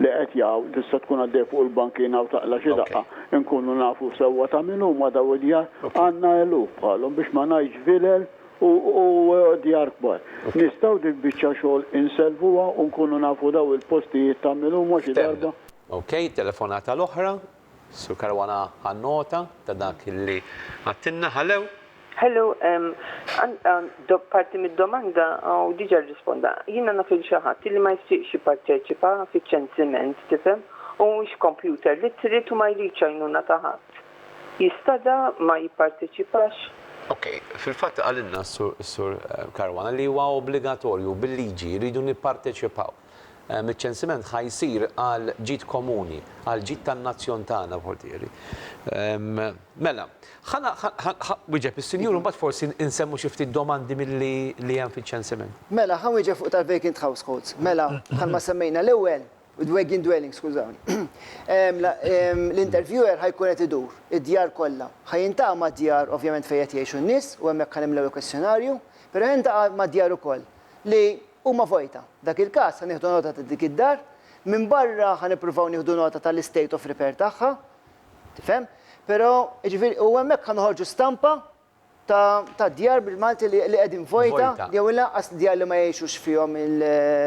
li qed jaqgħu, tista' tkun għaddej fuq il-bankina u taqla' xi daqqa, inkunu nafu sewwa ta' min huma daw id-djar. Għandna eluf bħalhom biex ma ngħidx vilel. U djar kbar. Nistgħu dik biċċa xogħol insellfuha u nkunu nafu daw il-postijiet ta' min huma xi darba? Ok, telefonata l-oħra. Sur Caruana ħa nota ta' dak li għadtilna. Hello. Hello, għandi parti mid-domanda u diġa rrisponda. Jiena naf lil xi ħadd li ma jixtieqx jipparteċipa fiċ-ċensiment, tifhem, u mhuwiex kompjuter li trid u ma jridx għajnuna ta' ħadd. jistadha ma jipparteċipax? Ok, fil-fatt qalilna s-Sur Caruana li huwa obbligatorju, bil-liġi rridu nipparteċipaw. Iċ-ċensiment ħa jsir għal ġid komuni, għal ġid tan-nazzjon tagħna Portieri. Mela, ħa wieġeb is-Sinjur u mbagħad forsi nsemmu xi ftit domandi milli li hemm fiċ-ċensiment. Mela, ħa nwieġeb fuq tal-vacant households. Mela, bħalma semmejna l-ewwel, Dwagin dwelling, skużawni. L-interviewer ħa jkun qed idur id-djar kollha. Ħa jintaqa' mad-djar ovvjament fejn qed jgħixu n-nies u hemmhekk ħa nimlew il-kwestjonarju, però ħa jintaqa' mad-djar ukoll li huma vojta. F'dak il-każ ħa nieħdu nota ta' dik id-dar, minbarra ħa nippruvaw nieħdu nota tal-istate of repair tagħha, tifhem? Però, jiġifieri, u hemmhekk ħa noħorġu stampa ta' djar bil-Malti li qegħdin vojta jew inqas djar li ma jgħixux fihom il-.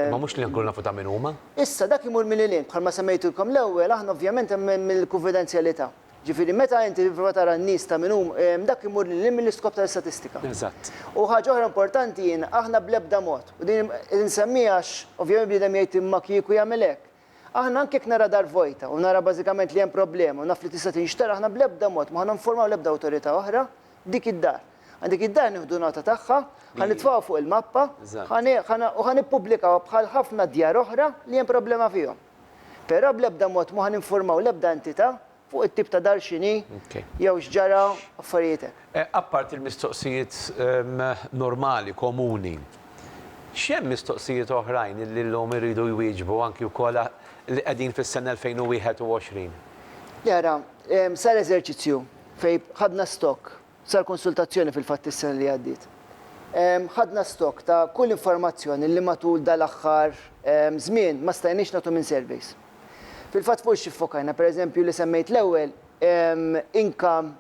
Imma mhux li nkunu nafu ta' min huma. Issa, dak imur minn lil-hinn, bħalma semmejtilkom l-ewwel, aħna ovvjament hemm il-kunfidenzjalità. Ġifieri meta inti tipprova tara n-nies ta' min huma, dak imur lil-hinn mill-iskop tal-istatistika. Eżatt. U ħaġa oħra importanti, aħna bl-ebda mod, u din qed insemmieha għax ovvjament bniedem jgħid imma kieku jagħmel hekk, Aħna anke jekk nara dar vojta u nara bażikament li hemm problema u naf li tista' tinxtara aħna bl-ebda mod ma ħa ninformaw l-ebda awtorità oħra b'dik id-dar. Għand dik id-dar nieħdu nota tagħha, ħa nitfgħuha fuq il-mappa, ħa u ħa nippubblikawha bħal ħafna djar oħra li hemm problema fihom. Però bl-ebda mod ma ħa ninformaw l-ebda entità fuq it-tip ta' dar x'inhi jew x'ġara, affarijiet hekk. Apparti l-mistoqsijiet normali, komuni, x'hemm mistoqsijiet oħrajn li llum iridu jwieġbu anki wkoll li qegħdin fis-sena 2021? Le ara, sar eżerċizzju fejn ħadna stock Sar konsultazzjoni fil-fatt is-sena li għaddiet. Ħadna stock ta' kull informazzjoni li matul dal-aħħar żmien ma stajniex nagħtu minn surveys. Fil-fatt fuq xi ffokajna? Per eżempju li semmejt l-ewwel, income,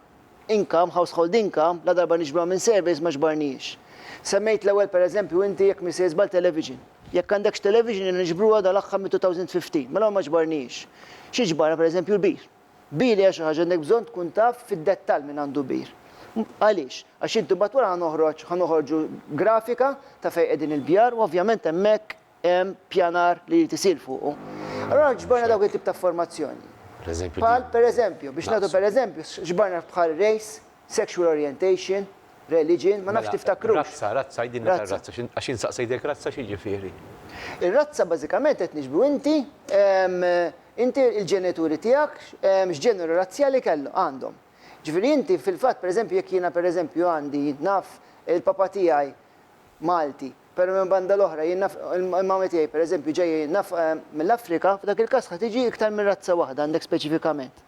income, household income, ladarba niġbruha minn surveys ma ġbarnihiex. Semmejt l-ewwel per eżempju inti jekk mhi sejr żball television. Jekk għandekx television jiena niġbruha dal-aħħar mit-2015, mela ma ġbarnihiex. Xi ġbarna per eżempju l-beer. Bir hija xi ħaġa għandek bżonn tkun taf fid-dettall min għandu bir. Għaliex? Għax inti mbagħad wara ħa noħroġ, ħa noħorġu grafika ta' fejn qegħdin il-bjar u ovvjament hemmhekk hemm pjanar li jrid isir fuqu. Allura ġbarna dawk it-tip ta' informazzjoni. Bħal pereżempju, biex nagħtu pereżempju, ġbarna bħal race, sexual orientation, religion, ma nafx tiftakrux. Razza, razza, għidilna tar-razza, għax jien saqsejtek razza x'jiġifieri? Ir-razza bażikament qed niġbru inti Inti il-ġenituri tiegħek x'ġeneru razzjali kellu, għandhom. Ġifieri inti fil-fatt pereżempju jekk jiena pereżempju għandi naf il-papa tiegħi Malti, però minn banda l-oħra jien naf il-mama tiegħi pereżempju ġejja naf mill-Afrika, f'dak il-każ ħa tiġi iktar minn razza waħda għandek speċifikament.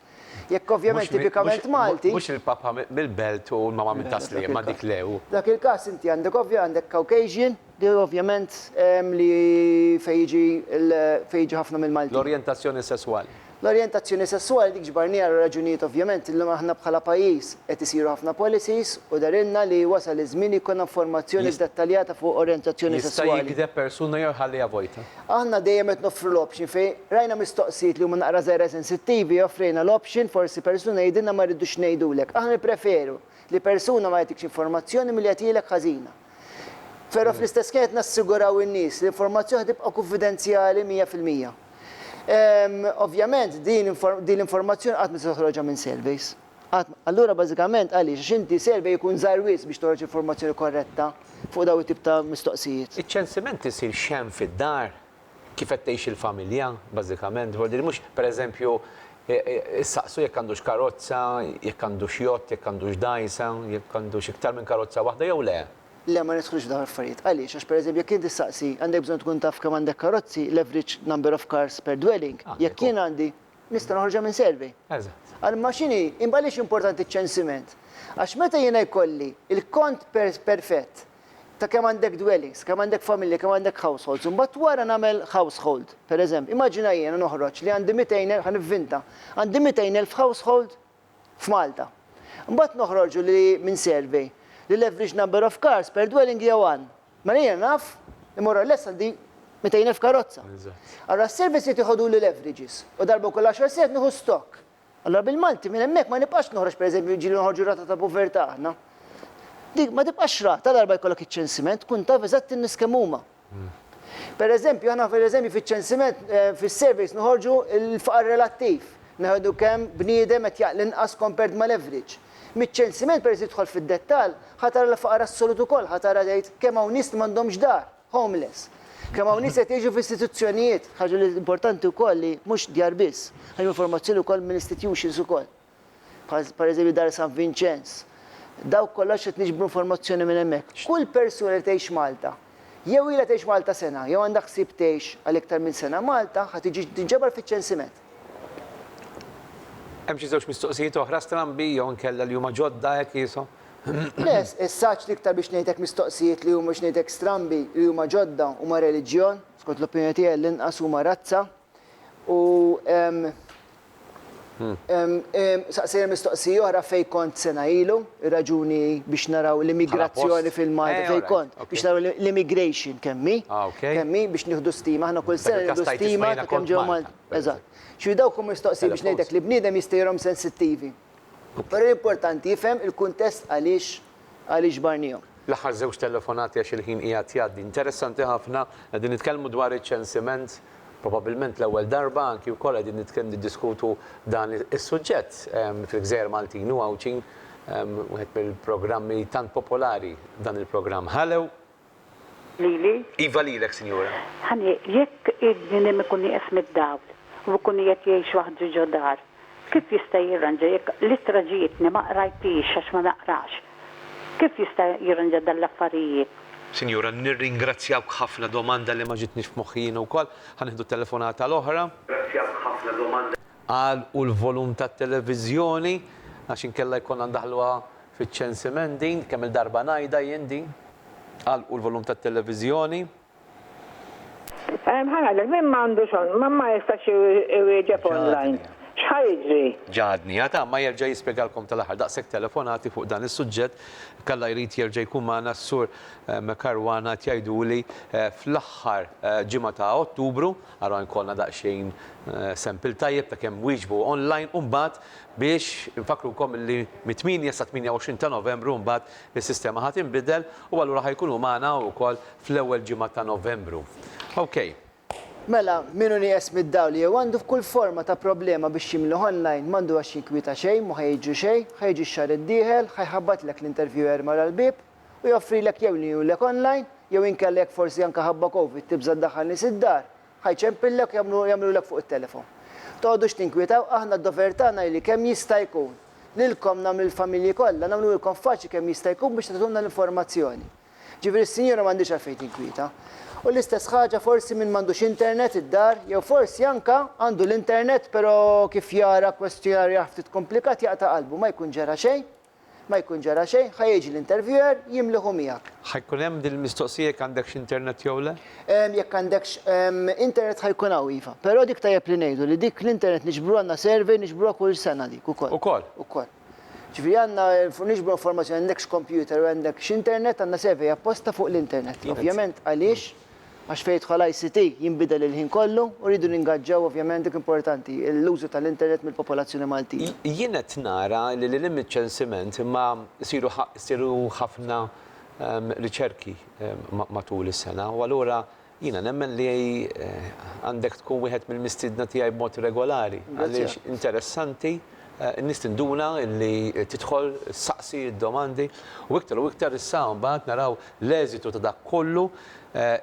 Jekk ovvjament tipikament Malti. Mhux il-papa mill-Belt u l-mama mit-Tasliema dik le u. F'dak il-każ inti għandek ovvja għandek Caucasian, Deher ovvjament li fejn jiġi fejn jiġu ħafna mill-Maltin. L-orjentazzjoni sesswali. L-orjentazzjoni sesswali dik ġbarnieha għal raġunijiet ovvjament li aħna bħala pajjiż qed isiru ħafna policies u dehrilna li wasal iż-żmien li jkollna informazzjoni ddettaljata fuq orjentazzjoni sesswali. Jista' jigdeb persuna jew iħalliha vojta. Aħna dejjem qed noffru l-option fejn rajna mistoqsijiet li huma naqra żgħira sensittivi offrejna l-option forsi persuna jgħidilna ma rridux ngħidulek. Aħna nippreferu li persuna ma jagħtikx informazzjoni milli jagħtilek ħażina. Però fl-istess ħin qed nassiguraw in-nies li l-informazzjoni ħa tibqa' kunfidenzjali mija fil-mija. Ovvjament din din l-informazzjoni qatt ma tista' toħroġha minn surveys. Qatt. Allura bażikament għaliex? Għax inti survey ikun żgħir wisq biex toħroġ informazzjoni korretta fuq dawn it-tip ta' mistoqsijiet. Iċ-ċensiment isir x'hemm fid-dar, kif qed tgħix il-familja, bażikament, dwar din mhux, pereżempju, issaqsu jekk għandux karozza, jekk għandux jott, jekk għandux dgħajsa, jekk għandux iktar minn karozza waħda jew le. Le, ma nidħlux f'dawn l-affarijiet. Għaliex? Għax pereżempju jekk int tistaqsi, għandek bżonn tkun taf kemm għandek karozzi, l-average number of cars per dwelling, jekk jien għandi, nista' noħorġha minn survey. Eżatt. Imma x'inhi, imma għaliex importanti ċ-ċensiment? Għax meta jiena jkolli l-kont perfett ta' kemm għandek dwellings, kemm għandek familja, kemm għandek households, u mbagħad wara nagħmel household. Pereżempju, immaġina jiena noħroġ li għandi 200 el-, ħa nivvinta, għandi 200 elf household f'Malta. Mbagħad noħorġu li minn survey li l-average number of cars per dwelling hija one. Mela jiena naf li more or less għandi 200 elf karozza. Allura s-surveys irid iħoduli l-averages u darba kull għaxar sigħat nieħu stock. Allura bil-Malti minn hemmhekk ma nibqax noħroġ pereżempju jiġieli noħorġu r-rata ta' povertà aħna. Dik ma tibqax rata darba jkollok iċ-ċensiment tkun taf eżatt in-nies kemm huma. Pereżempju aħna pereżempju fiċ-ċensiment fis-surveys noħorġu l-faqar relattiv, neħdu kemm bniedem qed jaqla inqas compared mal-average. Miċ-ċensiment peress li tidħol fid-dettall, ħa tara l-faqar assolut ukoll, ħa tara tgħid kemm hawn nies li m'għandhomx dar. homeless. Kemm hawn nies qed jgħixu f'istituzzjonijiet, ħaġa li importanti wkoll li mhux djar biss, hemm informazzjoni wkoll minn istitutions ukoll. Bħal pereżempju Dar San Vinċenz. Dawk kollha qed niġbru informazzjoni minn hemmhekk. Kull persuna li tgħix Malta, jew ilha tgħix Malta sena jew għandha ħsieb tgħix għal iktar minn sena Malta, ħa tiġi tinġabar fiċ-ċensiment. Hemm xi żewġ mistoqsijiet oħra strambi jew inkella li huma ġodda hekk qishom? Le, is-saġġ l-iktar biex ngħidlek mistoqsijiet li huma biex ngħidlek strambi li huma ġodda huma reliġjon, skont l-opinjoni tiegħi għall-inqas huma razza u saqsejna mistoqsija oħra fejn kont sena ilu. raġuni biex naraw l-immigrazzjoni fil-Malta fejn kont, biex naraw l-immigration kemm hi, kemm hi biex nieħdu stima, aħna kull sena nieħdu stima ta' kemm ġew Malta. Eżatt. X'inhu dawk huma mistoqsijiet biex ngħidlek li bniedem jista' jirahom sensittivi. Però l-importanti jifhem il-kuntest għaliex għaliex ġbarnihom. L-aħħar żewġ telefonati għax il-ħin qiegħed jgħaddi. Interessanti ħafna, qegħdin nitkellmu dwar iċ-ċensiment. Probabbilment l-ewwel darba anki wkoll qegħdin nitkellmu niddiskutu dan is-suġġett fil-Gżejjer Maltin u Għawdxin wieħed mill-programmi tant popolari dan il-programm. Hallo! Lili? Iva lilek, Sinjura. Ħani, jekk il-bniedem ikun nieqes mid-dawl u jkun qiegħed jgħix waħdu ġo dar, Kif jista' jirranġa jekk l-ittra ġietni ma qrajthiex għax ma naqrax? Kif jista' jirranġa dan l-affarijiet? Sinjura, nirringrazzjawk ħafna, domanda li ma ġietnix f'moħħi jiena wkoll. Ħa nieħdu t-telefonata l-oħra. Nirringrazzjawk ħafna, domanda. Għal u l-volum tat-televiżjoni għax inkella jkollna ndaħħluha fiċ-ċensiment din, kemm-il darba ngħidha jien din. Għal u l-volum tat-televiżjoni. Ehm, ħa ngħidlek, min m'għandux on, ma ma jistax iwieġeb online. X'ħa jiġri? Ġagħadni, ha ta' ma jerġa' jispjegalkom tal-aħħar daqshekk telefonati fuq dan is-suġġett, kalla jrid jerġa' jkun magħna s-Sur ehm, Caruana qed jgħiduli ehm, fl-aħħar ehm, ġimgħa ta' Ottubru, ara jkollna daqsxejn ehm, sample tajjeb ta' kemm wieġbu online u mbagħad biex infakkrukom li mit-8 sa 28 ta' Novembru mbagħad Is-sistema ħa tinbidel u allura ħa jkunu magħna hawn ukoll fl-ewwel ġimgħa ta' Novembru. Okay. Mela, min hu nieqes mid-dawl jew għandu f'kull forma ta' problema biex jimlieh online m'għandu għax jinkwieta xejn, mhu ħa jiġri xejn, ħa jiġi x-xahar id-dieħel, ħa jħabbatlek l-interviewer mara l-bieb u joffrilek jew lilek online jew inkella jekk forsi anke ħabba Covid tibża' ddaħħal nies id-dar, Ħa jċempillek u jagħmlu, jagħmlulek fuq it-telefon. Toqgħodux tinkwietaw, aħna d-dover tagħna hi li kemm jista' jkun, lilkom nagħmlu lill-familji kollha, nagħmluhilkom faċli kemm jista' jkun biex tagħtulna l-informazzjoni. Ġifieri s-sinjura m'għandhiex għalfejn tinkwieta. U l-istess ħaġa forsi min m'għandux internet id-dar, jew forsi anke għandu l-internet pero kif jara kwestjonarju ftit komplikat jaqta' qalbu, ma jkun ġara xejn. Ma jkun ġara xejn, ħa jiġi l-interviewer jimliħu miegħek. Ħa jkun hemm din il-mistoqsija jekk għandekx internet jew le? Jekk għandekx internet ħa jkun hawn iva. Però dik tajjeb li ngħidu li dik l-internet niġbru għandna survey niġbruha kull sena dik ukoll. Ukoll? Ukoll. Ġifieri għandna niġbru informazzjoni għandekx computer u għandekx internet għandna survey apposta fuq l-internet. Ovvjament għaliex? għax fejn jidħol ICT jinbidel il-ħin kollu u rridu ningaġġaw ovvjament dik importanti, l-użu tal-internet mill-popolazzjoni Maltija. Jien qed nara li lil hinn miċ-ċensiment imma jsiru jsiru ħafna riċerki matul is-sena u allura jiena nemmen li għandek tkun wieħed mill-mistiedna tiegħi b'mod regolari għaliex interessanti, in-nies tinduna li tidħol ssaqsi d-domandi u iktar u iktar issa mbagħad naraw L-eżitu ta' dak kollu,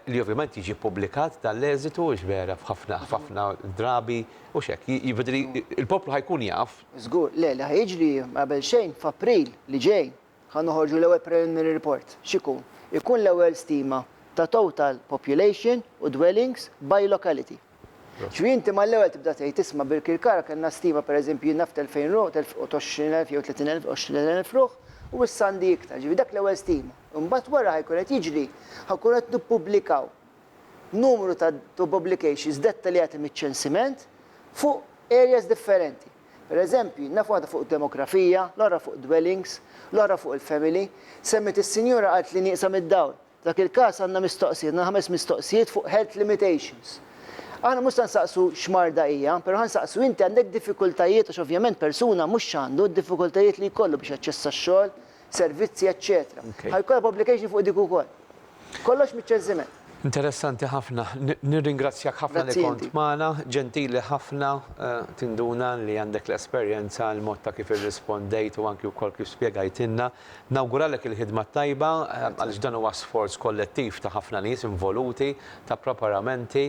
li ovvjament jiġi ppubblikat dan l-eżitu, hix vera f'ħafna f'ħafna drabi, hux hekk? Jiġifieri l-poplu ħa jkun jaf. Żgur. Le, li ħa jiġri qabel xejn f'April li ġej ħa noħorġu l-ewwel preliminary report. X'ikun? Ikun l-ewwel stima ta' total population u dwellings by locality. Ġifieri inti mal-ewwel tibda tgħid isma' Birkirkara kellna stima pereżempju jien naf t'elfejn ruħ, t'għoxrin elf jew tletin elf, għoxrin elf ruħ u issa għandi iktar. Ġifieri dak l-ewwel stima. Imbagħad wara ħajkun qed jiġri, ħa nkunu qed nippubblikaw numru ta' publications dettaljati miċ-ċensiment fuq areas differenti. Pereżempju, naf waħda fuq id-demografija, l-oħra fuq id-dwellings, l-oħra fuq il-family. Semmiet is-sinjura qalt li nieqsa mid-dawl. F'dak il-każ għandna mistoqsijiet, għandna ħames mistoqsijiet fuq health limitations. Aħna mhux se nsaqsu x'marda hija, però ħa nsaqsu inti għandek diffikultajiet għax ovvjament persuna mhux x'għandu, d-diffikultajiet li jkollu biex jaċċessa x-xogħol, servizzi, eċċetera. Ħa jkollha publication fuq dik ukoll. Kollox miċ-ċeżżiment. Interessanti ħafna. Nirringrazzjak ħafna li kont magħna. Ġentili ħafna. Tinduna li għandek l-esperjenza, il-mod ta' kif irrispondejt u anki wkoll kif spjegajtilna. Nawguralek il-ħidma t-tajba għaliex dan huwa sforz kollettiv ta' ħafna nies involuti, ta' preparamenti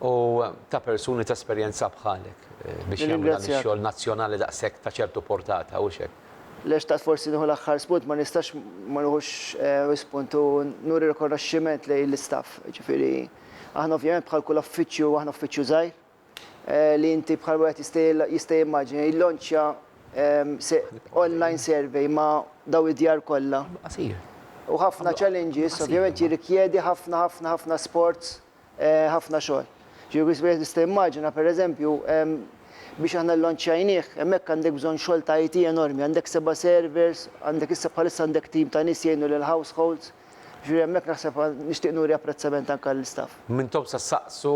u ta' persuni ta' esperjenza bħalek biex jagħmlu dan ix-xogħol nazzjonali daqshekk ta' ċertu portata, hux hekk? Le xtaqt forsi nieħu l-aħħar spunt, ma nistax ma nieħux spunt u nuri rikonoxximent lejn l-istaff. Jiġifieri aħna ovvjament bħal kull uffiċċju aħna uffiċċju żgħir, li inti bħal wieħed jista' jimmaġina jillonċja online survey ma' daw id-djar kollha. U ħafna challenges, ovvjament jirrikjedi ħafna ħafna ħafna sforz, ħafna xogħol. Ġifieri wieħed jista' jimmaġina pereżempju biex aħna llonċjajnieh, hemmhekk għandek bżonn xogħol ta' IT enormi, għandek seba' servers, għandek issa bħalissa għandek tim ta' nies jgħinu lill-households, Ġifieri hemmhekk naħseb nixtieq nuri apprezzament anke għall-istaff. M'intomx se ssaqsu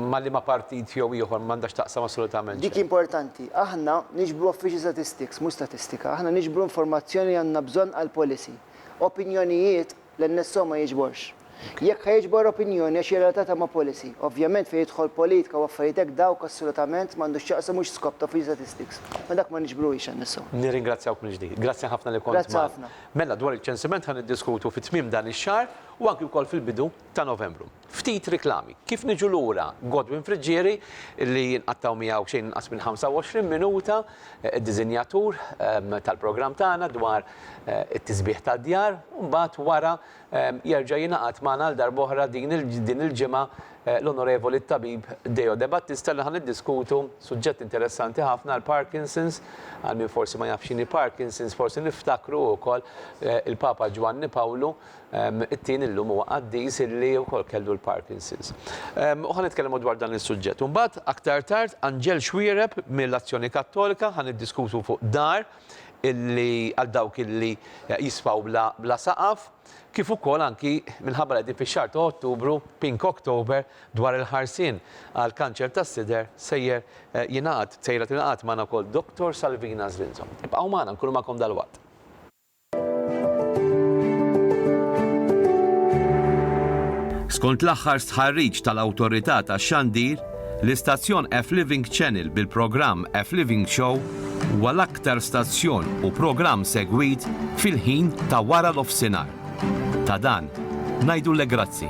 ma' liema partit jew ieħor, m'għandha x'taqsam assolutament xejn. Dik importanti. Aħna niġbru official statistics, mhux statistika. Aħna niġbru informazzjoni li għandna bżonn għall-policy. Opinjonijiet, l-NSO ma jiġborx. Jekk ħa jiġbor opinjoni għax hija relatata ma' policy. Ovvjament fejn jidħol politika u affarijiet hekk dawk assolutament m'għandu x'jaqsam mhux skop ta' official statistics. Ma dak ma niġbruhiex NSO. Nirringrazzjawk mill-ġdid. Grazzi ħafna li kont magħna. Grazzi ħafna. Mela dwar iċ-ċensiment ħa niddiskutu fi tmiem dan ix-xahar u anki wkoll fil-bidu ta' Novembru. Ftit riklami. Kif niġu lura Godwin Friggieri li nqattgħu miegħu xejn inqas minn 25 minuta, id-diżinjatur tal-programm tagħna dwar it-tisbiħ tad-djar u mbagħad wara Jerġa' jingħaqad magħna għal darb'oħra din il-ġimgħa l-Onorevoli t-Tabib Deo Debattista li ħa niddiskutu suġġett interessanti ħafna l-Parkinson's, għal min forsi ma jafx x'inhi Parkinson's forsi niftakru wkoll il-Papa Ġwanni Pawlu t-Tieni llum huwa qaddis illi wkoll kellu l-Parkinson's. U ħa nitkellmu dwar dan is-suġġett. U mbagħad aktar tard Anġel Xuereb mill-Azzjoni Kattolika ħa niddiskutu fuq dar illi għal dawk illi jisfaw bla bla saqaf, kif ukoll anki minħabba li qegħdin fix-xahar ta' Ottubru, Pink October, dwar il-ħarsien għal kanċer tas-sider sejjer jingħaqad, sejra tingħaqad magħna wkoll Dottor Salvina Zlinzo. Ibqgħu magħna, nkunu magħkom dalwaqt. Skont l-aħħar stħarriġ tal-Awtorità tax-Xandir, L-istazzjon F-Living Channel bil-programm F-Living Show huwa l-aktar stazzjon u programm segwit fil-ħin ta' wara l-ofsinhar. Ta' dan, ngħidulek grazzi.